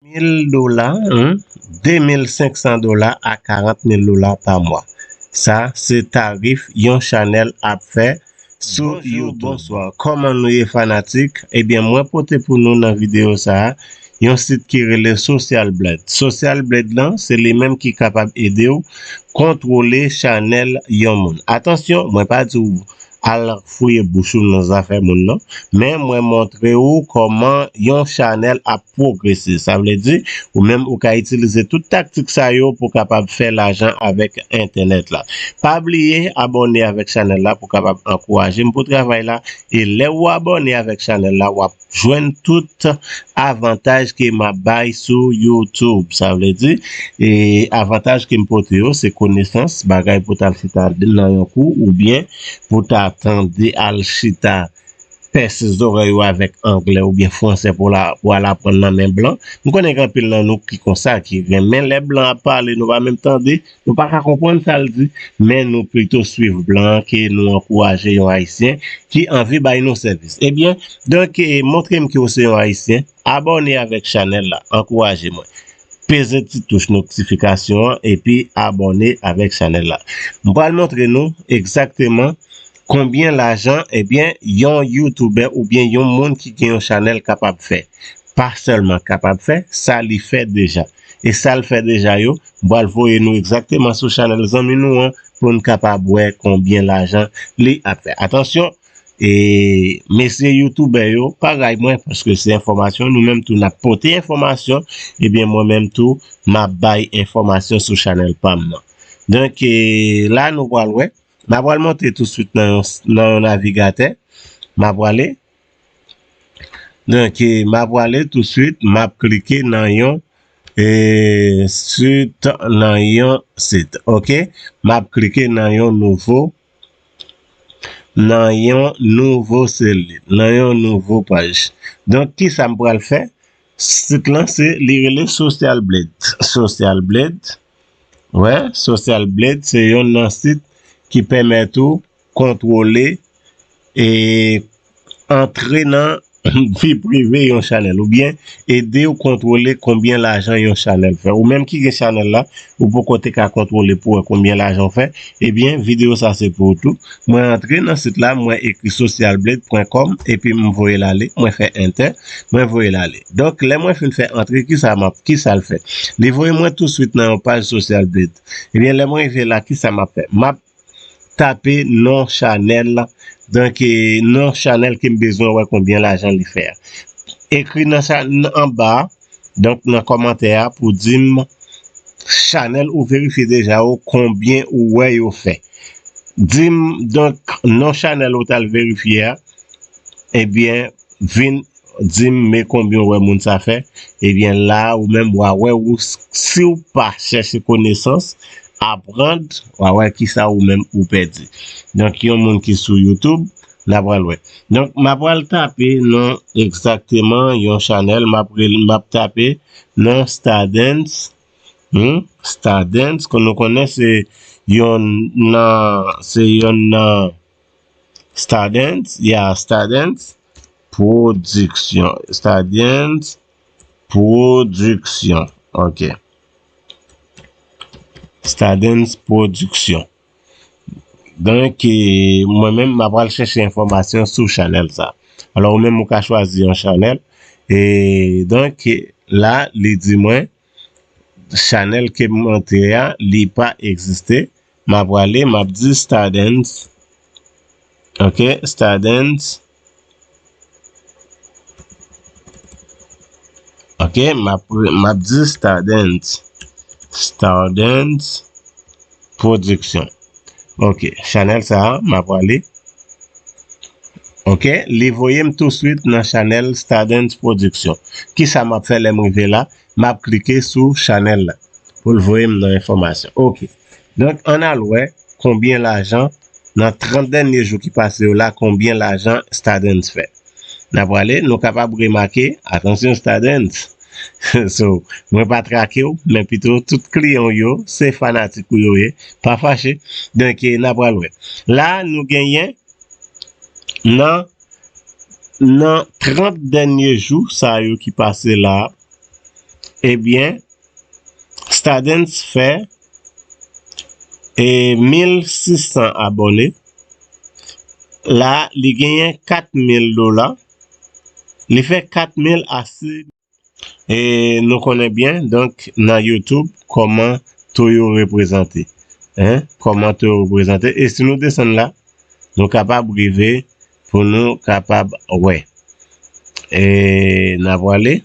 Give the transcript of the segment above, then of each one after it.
mil dola, 2500 dola a 40 mil dola pa mwa. Sa se tarif yon chanèl ap fè sou youtube. Bonjou, bonswa, kòman nou ye fanatik? Ebyen mwen pote pou nou nan videyo sa a yon sit ki rele Social Blade. Social Blade lan se li menm ki kapab ede w kontwole chanèl yon moun. Atansyon, mwen pa di w Al fouye bouch ou nan zafè moun non. Men mwen montre ou kòman yon chanèl ap pwogrese. Sa vle di, ou menm ou ka itilize tout taktik sa yo pou kapab fè lajan avèk entènèt la. Pa bliye abòne avèk chanèl la pou kapab ankouraje m pou travay la. E lè ou abòne avèk chanèl la, w ap. jwenn tout avantaj ke map bay sou youtube sa vle di e avantaj kem pote yo se konesans bagay pou tal chita nan yon kou ou byen pou ta tande al chita pèse zorèy ou avèk anglè ou byen fransè pou la pou al aprann nan men blan m konnen gen anpil nan nou ki konsa ki renmen lè blan ap pale nou pa menm tande. Nou pa ka konprann sa l di, men nou pito swiv blan an ke nou ankouraje yon Ayisyen ki anvi bay nou sèvis. Ebyen, donk montre m ke w se yon Ayisyen, abòne avèk chanèl la, ankouraje mwen. Peze ti touch notifikasyon an epi abòne avèk chanèl la. M pral montre nou egzakteman konbyen lajan ebyen yon youtubè oubyen yon moun ki gen yon chanèl kapab fè. Pa sèlman kapab fè, sa li fè deja. e sal fè deja yo, m pral voye nou egzakteman sou chanèl zanmi nou an pou n kapab wè konbyen lajan li ap fè. Atansyon e mesye youtoubè yo pa ray mwen paske se enfòmasyon nou menm tou n ap pote enfòmasyon ebyen mwen menm tou m ap bay enfòmasyon sou chanèl pa m nan. Donk e la nou pral wè m apral monte tousuit nan yon navigatè m aprale Donk map wale tou swit map klike nan yon sit nan yon sit ok map klike nan yon nouvo nan yon nouvo seli nan yon nouvo paj donk kisa m pral fè sit lan se li rele sosyal bled sosyal bled wè sosyal bled se yonn nan sit ki pèmèt ou kontwole e antre nan vi prive yon chanèl ou byen edew kontwole konbyen lajan yon chanèl fè ou menm ki gen chanèl la ou poko te ka kontwole pou wè konbyen lajan ou fè ebyen video sa se pou ou tou mwen antre nan sit la mwen ekri socialblade pwen kòm epim voyel ale mwen fè enter mwen voyel ale donk lè mwen fin fè antre kisa map kisal fè li voye mwen tou swit nan yon paj socialblade ebyen lèm rive la kisa map fè map Tape non chanèl la donk non chanèl ke m bezwen wè konbyen lajan li fè a ekri nan chanèl anba a donk nan kòmantè a pou di m chanèl ou verifye deja yo konbyen ou wè yo fè di m donk non chanèl ou t al verifye a ebyen vin Dim me konbyen ou wè moun sa fè ebyen la ou menm wa wè ou siw pa chèche konesans aprand wa wè kisa ou menm ou pèdi donk yon moun ki sou YouTube na pral wè donk ma pral tape non egzakteman yon chanèl map rele map tape non stardens humm stardens ke nou konnen se yonn nan se yonn nan. Stardens ya Stardens production Stardens production ok Stardens production donk mwen menm map pral chèche enfòmasyon sou chanèl sa alò ou menm ou ka chwazi yon chanèl e donk la li di mwen Chanel kem monte a li pa egziste ma prale map di stardens ok stardens ok map di stardens stardens. production ok chanel sa ma prale ok li voyem tou swit nan chanel stardens production kisa map fè lèm rive la map klike sou chanel la poul voyem nan enfòmasyon ok donk an al wè konbyen lajan nan 30 dènye jou ki pase yo la konbyen lajan stardens fè. N ap prale, nou kapab remake, atansyon Stardens, so mwen pa trake w men pito tout kliyan w yo se fanatik ou yo ye, pa fache, donk n ap pral wè. La a nou genyen nan nan 30 dènye jou sa yo ki pase la a, ebyen Stadens fè 1600 abòne la li genyen 4000 dola li fè 4000 a se e nou konnen byen donk nan youtube kòman to yo reprezante hein kòman to yo reprezante e si nou desann la nou kapab rive pou nou kapab wè. E n a prale.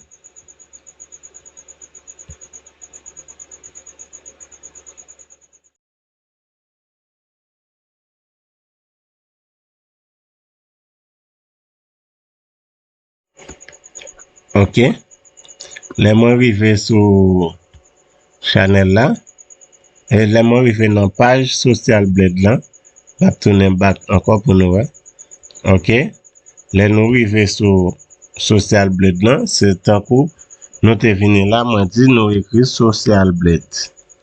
Ok lè mwen rive sou chanèl la e lè mwen rive nan paj sosyal blèd lan map tounen bak ankò pou nou wè ok lè nou rive sou sosyal blèd lan se tankou nou te vini la mwen di nou ekri sosyal blèd.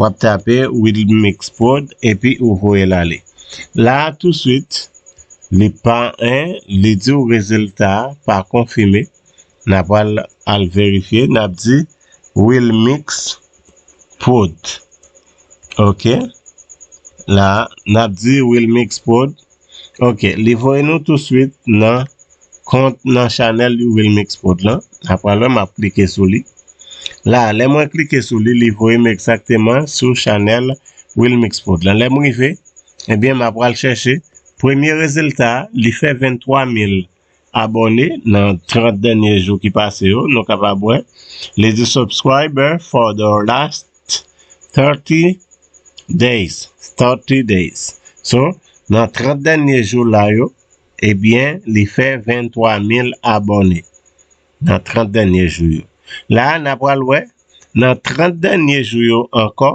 Wap tape wilmixprod epi ou voye l ale. La a touswit li pa 1 li di w rezilta a pa konfime na pral al verifye nap di wilmixprod ok la nap di wilmixprod Ok li voye nou tou swit nan kont nan chanèl youvilmixprod lan na pral wè map klike sou li la lè mwen klike sou li li voye m egzakteman sou chanèl wilmixprod lan lèm rive ebyen ma pral chèche premye rezilta li fè 23000 abòne nan 30 dènye jou ki pase yo nou kapab wè li di subscriber for the last 30 days 30 days so nan 30 dènye jou la yo ebyen li fè 23 mil abòne nan 30 dènye jou yo la na pral wè nan 30 dènye jou yo ankò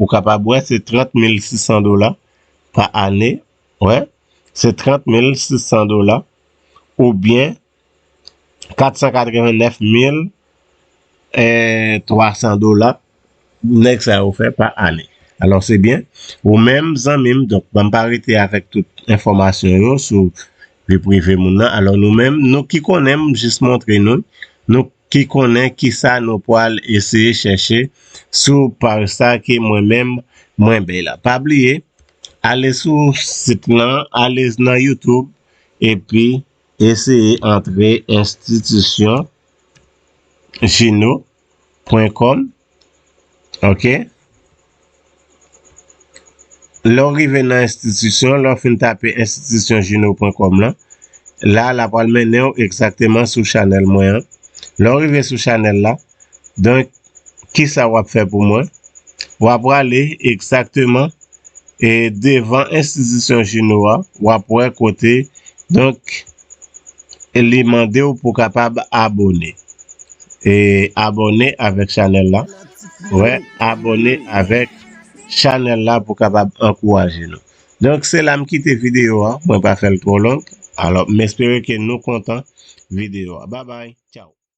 Ou kapab wè se 30 mil 600 dola pa ane, wè, se 30 mil 600 dola oubyen 489 mil 300 dola nèg sa yo fè pa ane. Alò se byen, ou menm zanmi m, donk banm pa rete avèk tout enfòmasyon yo sou vi prive moun nan, alò nou menm, nou ki konnen m jis montre nou, nou. ki konnen kisa nou pwal eseye chèche sou paj sa ke mwen menm mwen bay la pa bliye ale sou sit lan ale nan youtube epi eseye antre institution juno pwen kòm. Ok Lè w rive nan enstitisyon, lè w fin tape institutionjuno.com lan, la la pral mennen w egzakteman sou chanèl mwen an. Lè w rive sou chanèl la, donk kisa w ap fè pou mwen? W ap prale egzakteman e devan enstitisyon Juno a, w ap wè kote donk. Li mandew pou kapab abone. E abone avek chanel la. Wè abone avek chanel la pou kapab ankouraje nou. Donk se la m kite video a. Mwen pa fel tro long. Alo m espere ke nou kontan video a. Babay. Chow.